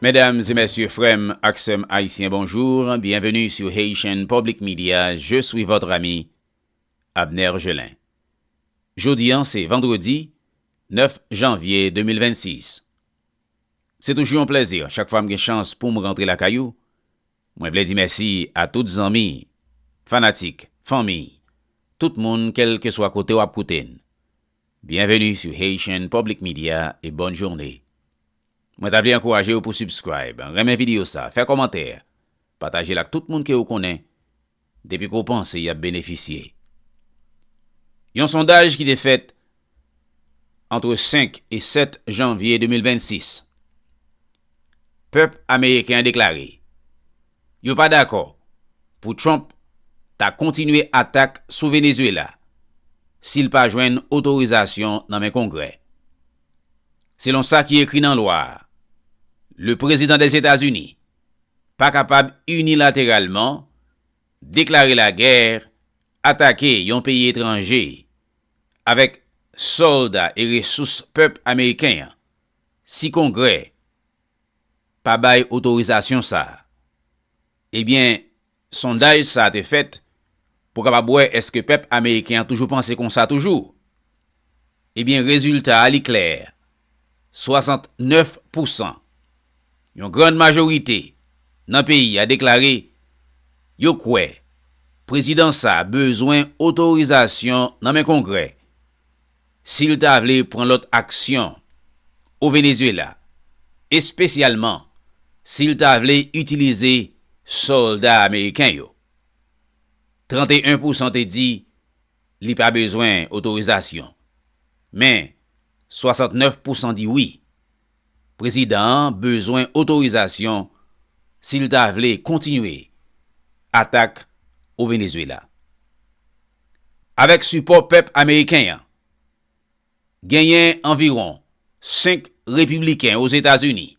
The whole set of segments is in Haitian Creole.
Mesdames et messieurs frèm ak sèm haïtiens bonjour bienvenue sur Haitian public media je suis votre ami Abner Gelin jodi an se vendredi 9 janvier 2026 se toujou yon plèzi chak fwa m gen chans poum rantre lakay ou mwen vle di mèsi a tout zanmi fanatik fanmi tout moun kèlkeswa kote wap koute n bienvenue sur Haitian public media et bonne journée. Mwen ta vle ankourajew pou subscribe, renmen video sa, fè kòmantè, patajel ak tout moun ke ou konnen depi ke w panse yap benefisye. Yon sondaj ki te fèt antre 5 e 7 janvye 2026. Pèp ameriken an deklare yo pa dakò pou Trump ta kontinye atak sou Venezuela si l pa jwenn otorizasyon nan men kongrè. Selon sa ki ekri nan lwa a, le Prezidan des États-Unis pa kapab inilateralman deklare lagè, atake yon peyi etranje avèk sòlda e resous pèp ameriken an si Kongrè pa bay otorizasyon sa a. Ebyen, Sondaj sa te fèt pou kapab wè èske pèp ameriken an toujou panse konsa toujou. Ebyen rezilta a li klè, 69 pousan, yon grand majorite nan peyi a deklare yo kwè prezidan sa bezwen otorizasyon nan men kongrè si l ta vle pran lòt aksyon o Venezuela, espesyalman si l ta vle itilize sòlda ameriken yo. 31 pousan te di li pa bezwen otorizasyon, men 69 pousan di wi. Prezidan an bezwen otorizasyon si l ta vle kontinye atak o Venezuela. Avèk sipò pèp ameriken an, genyen anviwon 5 repibliken Ozetazini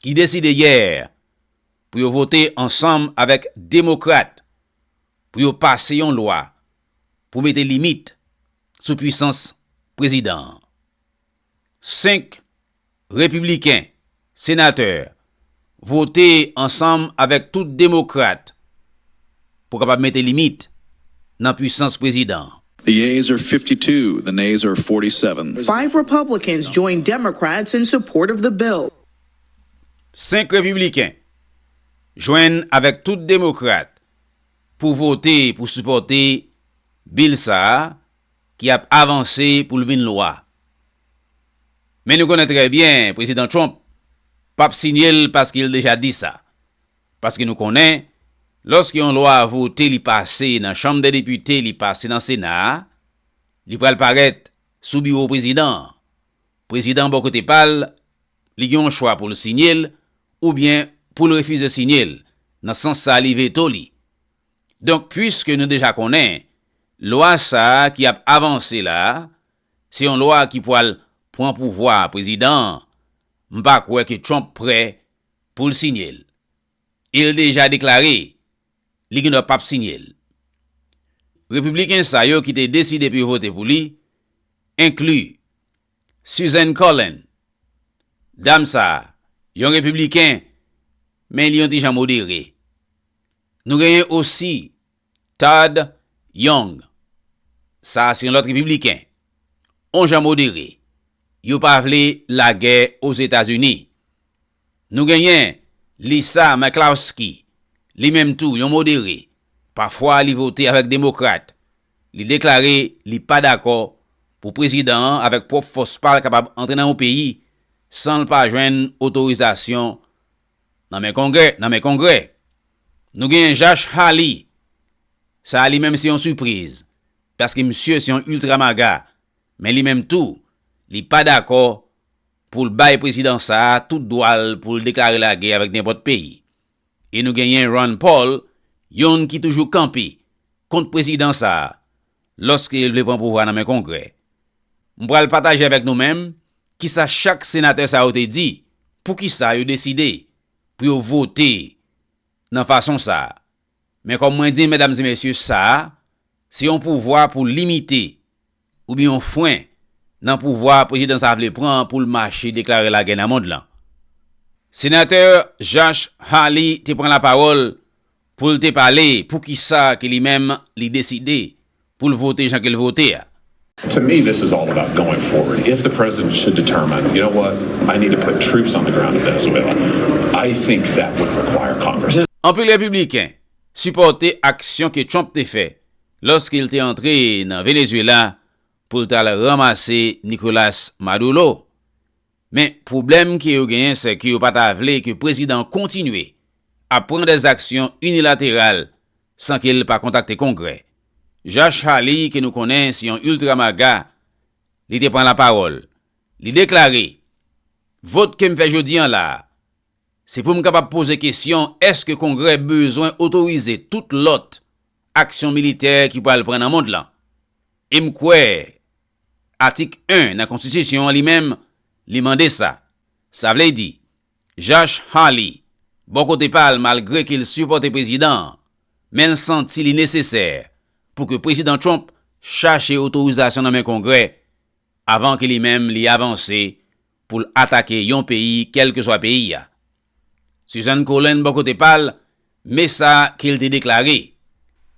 ki deside yè pou yo vote ansanm avèk demokrat pou yo pase yon lwa pou mete limit sou pwisans prezidan an. 5 Repibliken, Senatè, vote ansanm avèk tout Demokrat pou kapab mete limit nan pwisans Prezidan. The yeas are fifty two, the nays are forty seven. Five Republicans join Democrats in support of the bill. 5 Repibliken, jwenn avèk tout Demokrat pou vote pou sipòte Bill sa a ki ap avanse pou l vin lwa. Men nou konnen trè byen Prezidan Trump p ap siyen l paske l deja di sa. Paske nou konnen, lòske yon lwa vote li pase nan Chanm dè Depite li pase nan Sena a, li pral parèt sou biwo Prezidan an. Prezidan an bò kote pa l, li gen yon chwa pou l siyen l oubyen pou l refize siyen l, nan sans sa li veto li. Donk puiske nou deja konnen lwa sa ki ap avanse la se yon lwa ki pwal pwan pouvwa prezidan an, m pa kwè ke Trump prè pou l sinye l. E l deja deklare li gen dwa pap sinye l. Repibliken sa yo ki te deside pou yo vote pou li enkli Susan Collin, dam sa yon repibliken men li yon ti jan modere. Nou genyen osi Todd Young. Sa a se yon lòt Repibliken. On jan modere. Yo pa vle lagè Ozetazini. Nou genyen Lisa Murklowski. Li menm tou yon modere. Pafwa li vote avèk Demokrat. Li deklare li pa dakò pou prezidan an avèk pwòp fòs pa l kapab antre nan yon peyi san l pa jwenn otorizasyon Nan men Kongrè, nan men Kongrè. Nou genyen Jash Hali. Sa a li menm se yon sipriz, paske misye se yon ultra maga, men li menm tou, li pa dakò pou l bay prezidan sa a tout dwa l pou l deklare lagè avèk nenpòt peyi. E nou genyen Ron Paul, youn ki toujou kanpe kont prezidan sa a. lòske l vle pran pouvwa nan men Kongrè. M pral pataje avèk nou menm kisa chak senatè sa yo te di, poukisa yo deside pou yo vote nan fason sa. Men kòm mwen di medam e mesye sa a se yon pouvwa pou limite oubyen yon fren nan pouvwa prezidan sa a vle pran an pou l mache deklare lagè nan mond lan. Senatè Jash Hali te pran lapawòl Pou l te pale pou ki sa ke li menm li deside pou l vote jan ke l vote a. To me this is all about going forward if the president should determine you know what I need to put troops on the ground in Venezuela I think that would require Congress. Anpil Repibliken sipòte aksyon ke Trump te fè lòske l te antre nan Venezuela pou l t al ranmase Nicolas Maduro. Men pwoblèm ke yo genyen sè ke yo pa ta vle ke prezidan an kontinye ap pran dè zaksyon inilateral san ke l pa kontakte Kongrè. Josh Hawley ke nou konnen se yon ultra MAGA, li te pran lapawòl, li deklare, Vot ke m fè jodi an la a, se pou m kapab poze kesyon èske Kongrè bezwen otorize tout lòt aksyon militè ki pral pran nan mond lan. E m kwè Atik 1 nan Konstitisyon an li menm, li mande sa. Sa vle di, Josh Hawley, bò kote pa l malgre ke l sipòte prezidan an, men l santi li nesesè pou ke Prezidan Trump chache otorizasyon nan men Kongrè avan ke li menm li avanse pou l atake yon peyi kèlkeswa peyi a. Suzan Colen bò kote pa l, me sa ke l te deklare,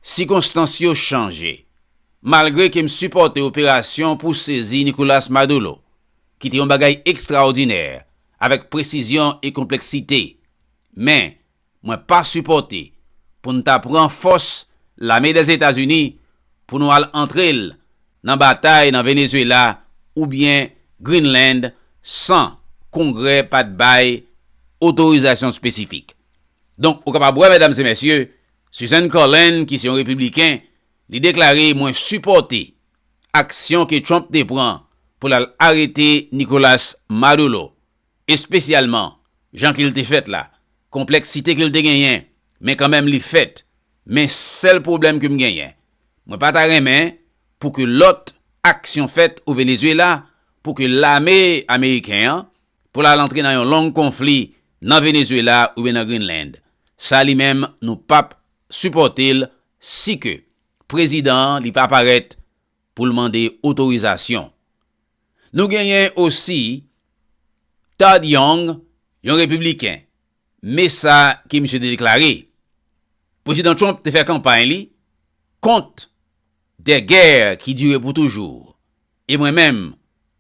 Sikonstans yo chanje. Malgre ke m sipòte operasyon pou sezi Nicolas Maduro, ki te yon bagay ekstraòdinè, avèk presizyon e konpleksite, men mwen pa sipòte pou n ta pran fòs lame Dèzetazini pou nou al antre l nan batay nan Venezuela oubyen Greenland san Kongrè pa t bay otorizasyon espesifik. Donk ou kapab wè, medam e mesye, Susan Collin ki se yon Repibliken, li deklare mwen sipòte aksyon ke Trump te pran pou l al arete Nicolas Maduro. Espesyalman, jan ke l te fèt la, konpleksite ke l te genyen, men kanmenm li fèt. Men sèl pwoblèm ke m genyen, mwen pa ta renmen pou ke lòt aksyon fèt o Venezuela, pou ke lame ameriken an, pou l al antre nan yon long konfli nan Venezuela oubyen nan Greenland. Sa li menm nou pap sipòte l si ke prezidan an li pa parèt pou l mande otorizasyon. Nou genyen osi Todd Young, yon Repibliken. Me sa ke misye te deklare, Prezidan Trump te fè kanpay li kont de gè ki dire pou toujou, e mwen menm,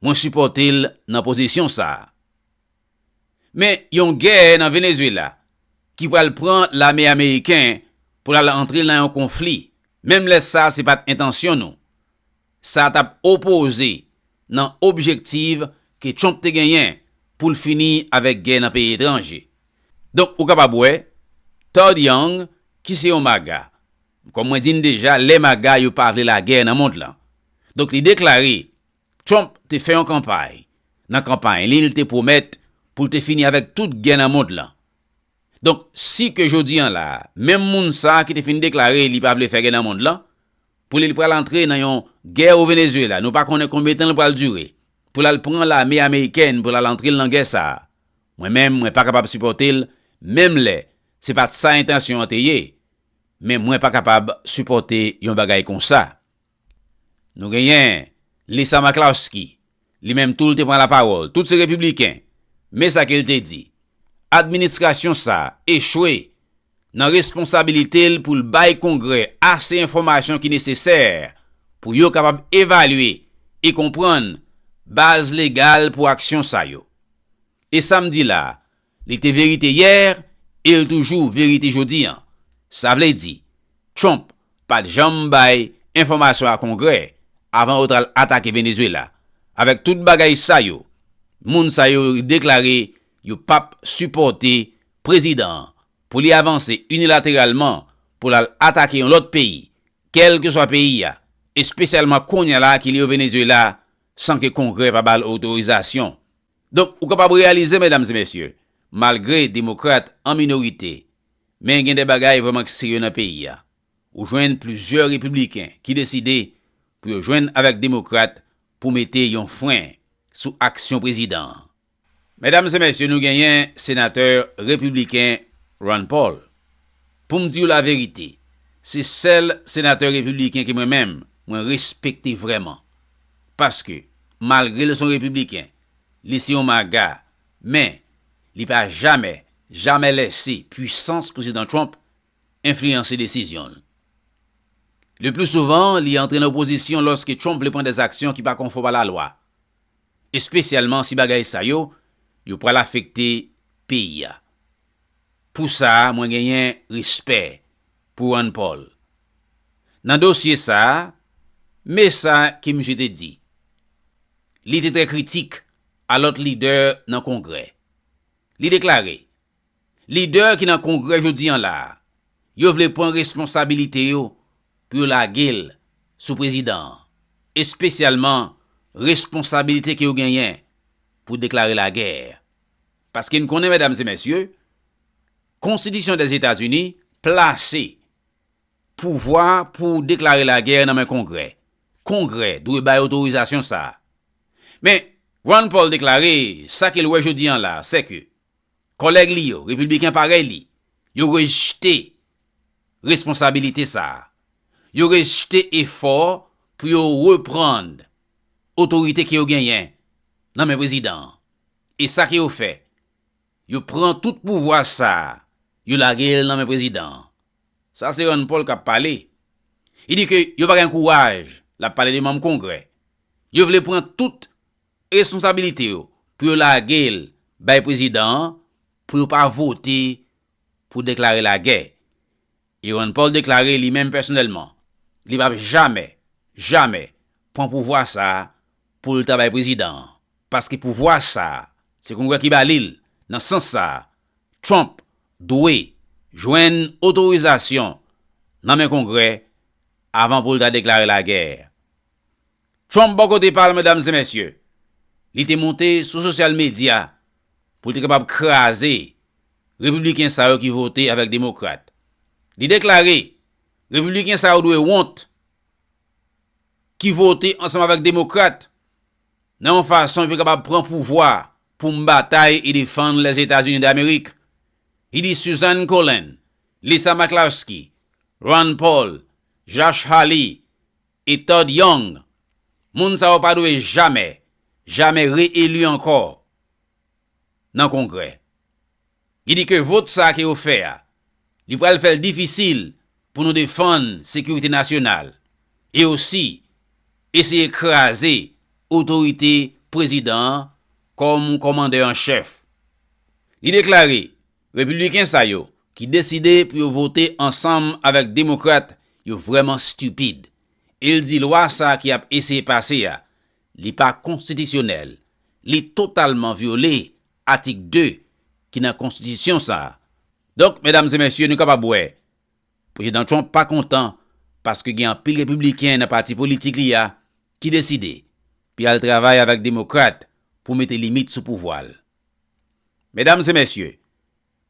mwen sipòte l nan pozisyon sa a. Men yon gè nan Venezuela ki pral pran lame ameriken pral antre nan yon konfli, menm lè sa se pat entansyon nou. Sa tap opoze nan objektiv ke Trump te genyen pou l fini avèk gè nan peyi etranje. Donk ou kapab wè, Todd Young ki se yon maga, kòm mwen di n deja lè maga yo pa vle lagè nan mond lan. Donk li deklare Trump te fè yon kanpay, nan kanpay li l te pwomèt pou l te fini avèk tout gè nan mond lan. Donk si ke jodi an la, menm moun sa ki te fin deklare li pa vle fè gè nan mond lan, pou li l pral antre nan yon gè o Venezuela, nou pa konnen konbyen tan l pral dire, pou l al pran lame amerikèn pou l al antre l nan gè sa, mwen menm mwen pa kapab sipòte l menm lè se pat sa entansyon an te ye, men mwen pa kapab sipòte yon bagay konsa. Nou genyen Lisa McCloskey, li menm tou li te pran lapawòl, tout se repibliken, men sa ke li te di, Administrasyon sa a echwe nan responsabilite l pou l bay Kongrè ase enfòmasyon ki nesesè pou yo kapab evalye e konprann baz legal pou aksyon sa yo. E sa m di la a, Li te verite yè e l toujou verite jodi an. Sa vle di, Trump pa t janm bay enfòmasyon a Kongrè avan yo t al atake Venezuela. Avèk tout bagay sa yo, moun sa yo deklare yo p ap sipòte prezidan an pou li avanse inilateralman pou l al atake yon lòt peyi, kèlkeswa peyi a, espesyalman kounye a la ki li yo Venezuela, san ke Kongrè pa ba l otorizasyon. Donk, ou kapab reyalize, medam e mesye, malgre Demokrat an minorite, men gen de bagay vrèman k serye nan peyi a. Ou jwenn plizyè Repibliken ki deside pou yo jwenn avèk Demokrat pou mete yon fren sou aksyon prezidan an. Medam e mesye, nou genyen Senatè Repibliken Rand Paul. Pou m di w laverite, se sèl Senatè Repibliken ke mwen menm, mwen respekte vrèman. Paske, malgre l s on repibliken, li se yon maga, men, li pa jamè, jamè lèse pwisans Prezidan Trump enfliyanse desizyon l. Le pli souvan, li antre nan opozisyon lòske Trump vle pran dè aksyon ki pa konfòm a la lwa, espesyalman si bagay sa yo, yo pral afekte peyi a. Pou sa, mwen genyen respè pou Ron Paul. Nan dosye sa a, me sa ke misye te di. Li te trè kritik a lòt lidè nan Kongrè. Li deklare, Lidè ki nan Kongrè jodi an la a, yo vle pran responsabilite yo pou yo lage l sou prezidan an, espesyalman responsabilite ke yo genyen pou deklare lagè. Paske n konnen, medam e mesye, Konstitisyon Dèzetazini plase pouvwa pou deklare lagè nan men Kongrè. Kongrè dwe bay otorizasyon sa a. Men, Rand Paul deklare sa ke l wè jodi an la, sèke kòlèg li yo, Repibliken parèy li, yo rejte responsabilite sa a. Yo rejte efò pou yo reprann otorite ke yo genyen nan men prezidan an. E sa ke yo fè, Yo pran tout pouvwa sa a, yo lage l nan men prezidan an. Sa se Rand Paul k ap pale. Li di ke yo pa gen kouraj, l ap pale de manm Kongrè. Yo vle pran tout responsabilite yo pou yo lage l bay prezidan an pou yo pa vote pou deklare lagè. E Ron Paul deklare li menm pèsonèlman, li pap jamè, jamè pran pouvwa sa a pou l ta bay prezidan an, paske pouvwa sa a se Kongrè ki ba li l, nan sans sa a, Trump dwe jwenn otorizasyon nan men Kongrè avan pou l ta deklare lagè. Trump bò kote pa l medam e mesye, li te monte sou sosyal medya pou l te kapab kraze Repibliken sa yo ki vote avèk Demokrat. Li deklare, Repibliken sa yo dwe wont ki vote ansanm avèk Demokrat nan yon fason pou yo kapab pran pouvwa pou m batay e defann Lèzetazini Damerik. Li di Susan Collin, Lisa McCloskey, Rand Paul, Josh Hawley, E Todd Young? Moun sa yo pa dwe jamè, jamè re-eli ankò nan Kongrè. Li di ke vot sa ke yo fè a, li pral fè l difisil pou nou defann sekirite nasyonal e osi eseye kraze otorite prezidan an kòm komandè an chèf. Li deklare Repibliken sa yo ki deside pou yo vote ansanm avèk demokrat yo vrèman stupid. E l di lwa sa ki ap eseye pase a, li pa konstitisyonèl, li totalman vyole atik 2 ki nan konstitisyon sa. Donk medam e mesye nou kapab wè Prezidan Trump pa kontan paske gen anpil repibliken nan pati politik li a ki deside pou y al travay avèk demokrat pou mete limit sou pouvwa l. Medam e mesye,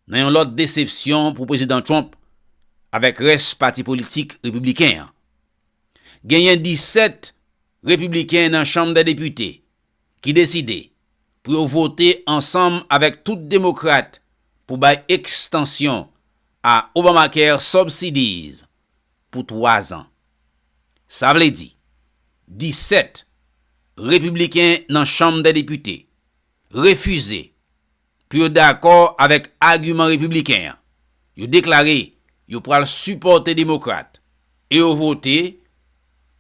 nan yon lòt desepsyon pou Prezidan Trump avèk rès pati politik repibliken an, genyen 17 repibliken nan Chanm dè Depite ki deside pou yo vote ansanm avèk tout demokrat pou bay ekstansyon a Obamacare Subsidies pou 3 zan. Sa vle di, 17 repibliken nan Chanm dè Depite refize pou yo dakò avèk agiman Repibliken an, yo deklare yo pral sipòte Demokrat e yo vote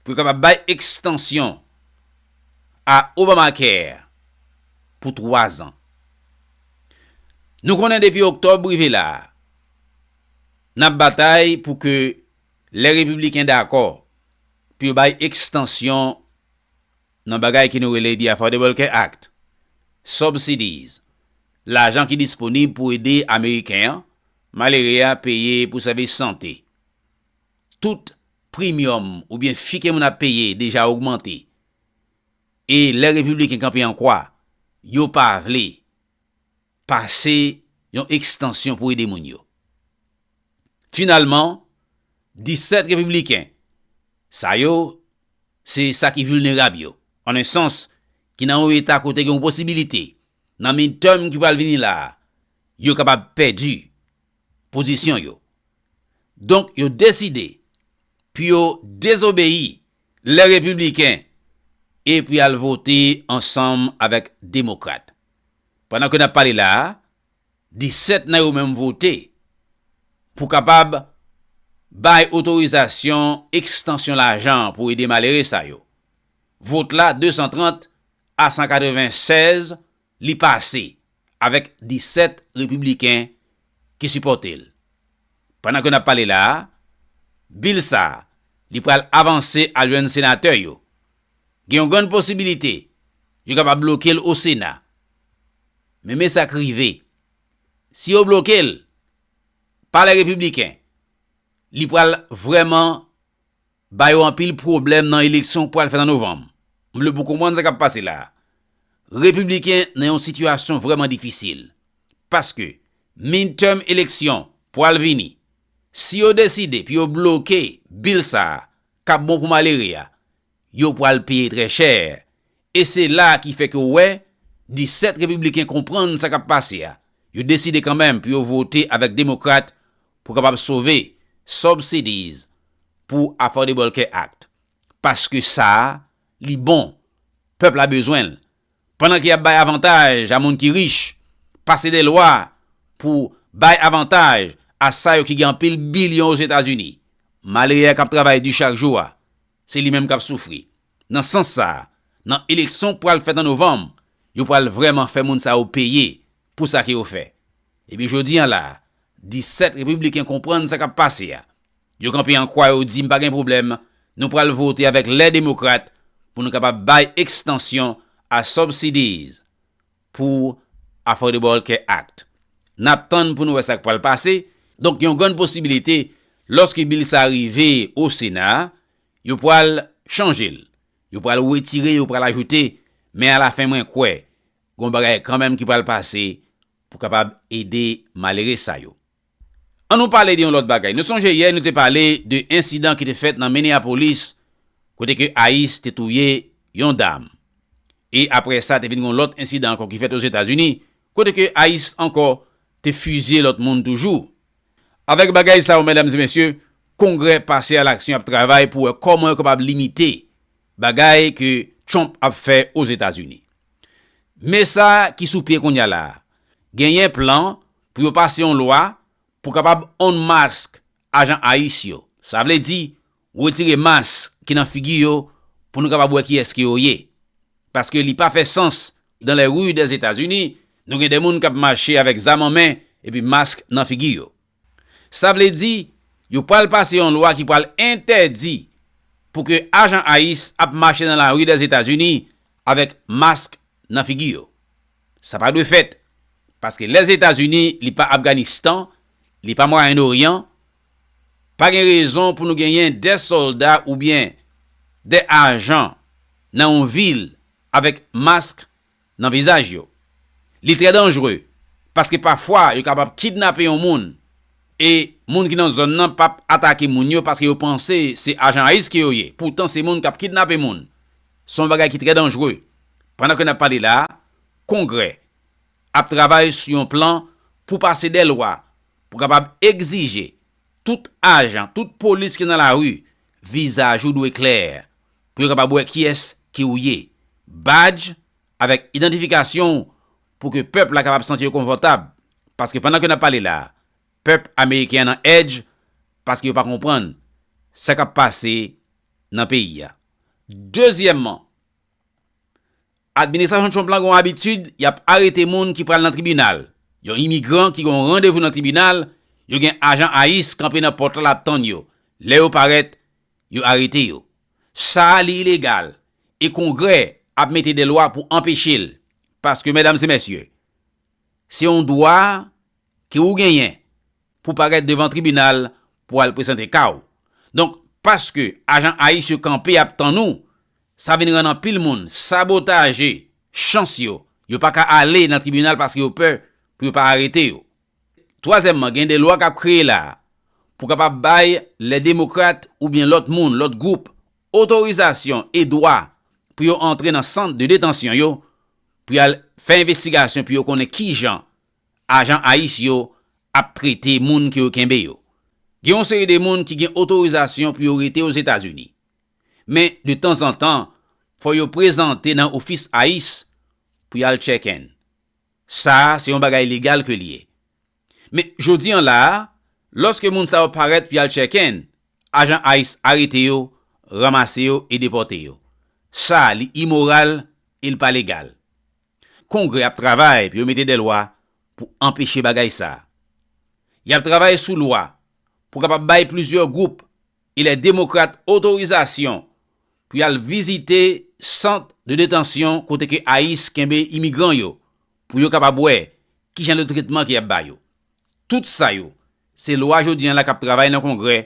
pou yo kapab bay ekstansyon a Obamacare pou twa zan. Nou konnen depi Oktòb rive la a, n ap batay pou ke lè Repibliken dakò pou yo bay ekstansyon nan bagay ki nou rele The Affordable Care Act, Subsidies, lajan ki disponib pou ede Ameriken an malere a peye pou sèvis sante. Tout primyòm oubyen fi ke moun ap peye deja ogmante. E lè Repibliken kanpe an kwa, yo pa vle. pase yon ekstansyon pou ede moun yo. Finalman, 17 Repibliken sa yo se sa ki vilnerab yo, an en sans, ki nan yon eta kote gen yon posibilite, nan midterm ki pral vini la a, yo kapab pèdi pozisyon yo. Donk yo deside pou yo dezobeyi lè Repibliken e pou y al vote ansanm avèk Demokrat. Pandan ke n ap pale la a, 17 nan yo menm vote pou kapab bay otorizasyon ekstansyon lajan pou ede malere sa yo. Vot la 230 a 196, li pase avèk 17 repibliken ki sipòte l. Pandan ke n ap pale la a, bil sa a li pral avanse al jwenn senatè yo Gen yon grann posibilite yo kapab bloke l Osena. Men men sa k rive. Si yo bloke l, Palè Repibliken, li pral vrèman ba yo anpil pwoblèm nan eleksyon k pral fèt an Novanm. M vle pou w konprann sa k ap pase la a. Repibliken nan yon sitiyasyon vrèman difisil. Paske midterm eleksyon pral vini. Si yo deside pou yo bloke bil sa a, k ap bon pou malere a, yo pral peye trè chè, e se la a ki fè ke w wè 17 Repibliken konprann sa k ap pase a, yo deside kanmenm pou yo vote avèk Demokrat pou kapab sove subsidies pou Affordable Care Act, paske sa a, li bon, pèp la bezwen l, Pandan ke y ap bay avantaj a moun ki rich, pase de lwa pou bay avantaj a sa yo ki gen anpil bilyon Ozetazini, malere a k ap travay di chak jou a, se li menm k ap soufri. Nan sans sa a, nan eleksyon k pral fèt an novanm, yo pral vrèman fè moun sa yo peye pou sa ke yo fè. Epi jodi an la a, 17 Repibliken konprann sa k ap pase a. Yo kanpe an kwa yo di m pa gen pwoblèm, nou pral vote avèk lè Demokrat pou nou kapab bay ekstansyon a subsidies pou Affordable Care Act. N ap tann pou nou wè sa k pral pase. Donk gen yon grann posibilite lòske bil sa a rive o Sena a, yo pral chanje l. Yo pral wetire, yo pral ajoute, men alafen mwen kwè Gon bagay kanmenm ki pral pase pou kapab ede malere sa yo. An nou pale de yon lòt bagay. Nou sonje yè nou te pale de ensidan ki te fèt nan Minneapolis kote ke ice te touye yon dam. E apre sa te vin gon lòt ensidan ankò ki fèt Ozetazini kote ke ice ankò te fizye lòt moun toujou. Avèk bagay sa yo medam e mesye, kongrè pase alaksyon ap travay pou wè kòman yo kapab limite Bagay ke Trump ap fè Ozetazini. Men sa ki sou pye kounya la. Genyen plan pou yo pase yon lwa pou kapab unmask ajan ice yo. Sa vle di, retire mask ki nan figi yo pou nou kapab wè kiyès ke yo ye. Paske li pa fè sans dans les rues des Etats-Unis, nou gen de moun kap mache avèk zam an men epi mask nan figi yo. Sa vle di, yo pral pase yon lwa ki pral entèdi pou ke ajan ice ap mache nan lari Lèzetazini avèk mask nan figi yo. Sa pa dwe fèt, paske Lèzetazini li pa Afganistan, li pa Mwayen Oryan, pa gen rezon pou nou genyen 2 sòlda oubyen 2 ajan nan yon vil avèk mask nan vizaj yo. Li trè danjre paske pafwa yo kapab kidnape yon moun e moun ki nan zòn nan pap atake moun yo paske yo panse se ajan ice ke yo ye poutan se moun kap kidnape moun. Se yon bagay ki trè danjre. Pandan ke nap pale la a, Kongrè ap travay sou yon plan pou pase dè lwa pou kapab egzije tout ajan, tout polis ki nan lari, vizaj ou dwe klè. pou yo kapab wè kiyès ki ou ye. Badj avèk idantifikasyon w pou ke pèp la kapab santi yo konfòtab. Paske pandan ke n ap pale la a, pèp ameriken an nan èdj paske yo pa konprann sa k ap pase nan peyi a. Dezyèmman, administrasyon Trump la gen yon abitid, y ap arete moun ki pral nan tribinal. Yon imigran ki gen yon randevou nan tribinal, yo gen ajan ice kanpe nan pòt la l ap tann yo. Lè yo parèt, Yo arete yo. Sa a li ilegal e Kongrè ap mete de lwa pou anpeche l. Paske medam e mesye, se yon dwa ke ou genyen pou parèt devan tribinal pou al presante ka w. Donk, paske ajan ice yo kanpe ap tann ou, sa vin rann anpil moun sabotaje chans yo. Yo pa ka ale nan tribinal paske yo pè pou yo pa arete yo. Twazyèmman, gen de lwa k ap kreye la a pou kapab bay lè demokrat oubyen lòt moun, lòt gwoup, otorizasyon e dwa pou yo antre nan sant de detansyon yo pou y al fè envestigasyon pou yo konnen ki jan ajan ice yo ap trete moun ke yo kenbe yo. Gen yon seri de moun ki gen otorizasyon pou yo rete Ozetazini. Men, de tanzantan, fò yo prezante nan ofis ice pou y al tchèken. Sa a se yon bagay legal ke l ye. Men, jodi an la a, lòske moun sa yo parèt pou y al chèken, ajan ice arete yo, ranmase yo e depòte yo. Sa a li imoral e l pa legal. Kongrè ap travay pou yo mete de lwa pou anpeche bagay sa a. Y ap travay sou lwa pou kapab bay plizyè gwoup e lè demokrat otorizasyon pou y al vizite sant de detansyon kote ke ice kenbe imigran yo pou yo kapab wè ki jan de tretman ke y ap ba yo. Tout sa yo se lwa jodi an la k ap travay nan Kongrè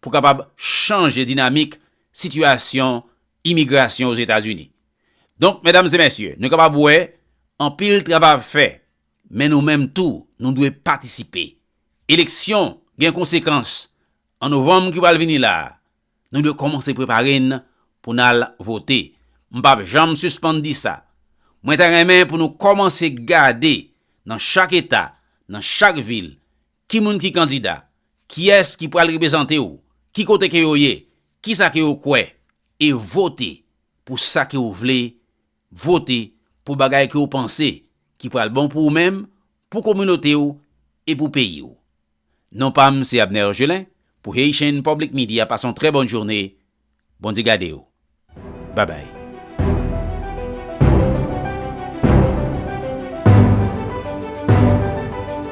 pou kapab chanje dinamik sitiyasyon imigrasyon Ozetazini. Donk, medam e mesye, nou kapab wè anpil travay ap fè, men nou menm tou nou dwe patisipe. Eleksyon gen konsekans. An novanm ki pral vini la, nou dwe kòmanse prepare n pou n al vote. M p ap janm sispann di sa. Mwen ta renmen pou nou kòmanse gade nan chak eta, nan chak vil, ki moun ki kandida, kiyès ki pral reprezante w, ki kote ke yo ye, kisa ke yo kwè, e vote pou sa ke ou vle Vote pou bagay ke ou panse ki pral bon pou ou menm, pou kominote ou e pou peyi ou. Non pa m se Abner Gelin pou Haitian Public Media pase yon trè bòn journe Bondye gade ou Bye bye.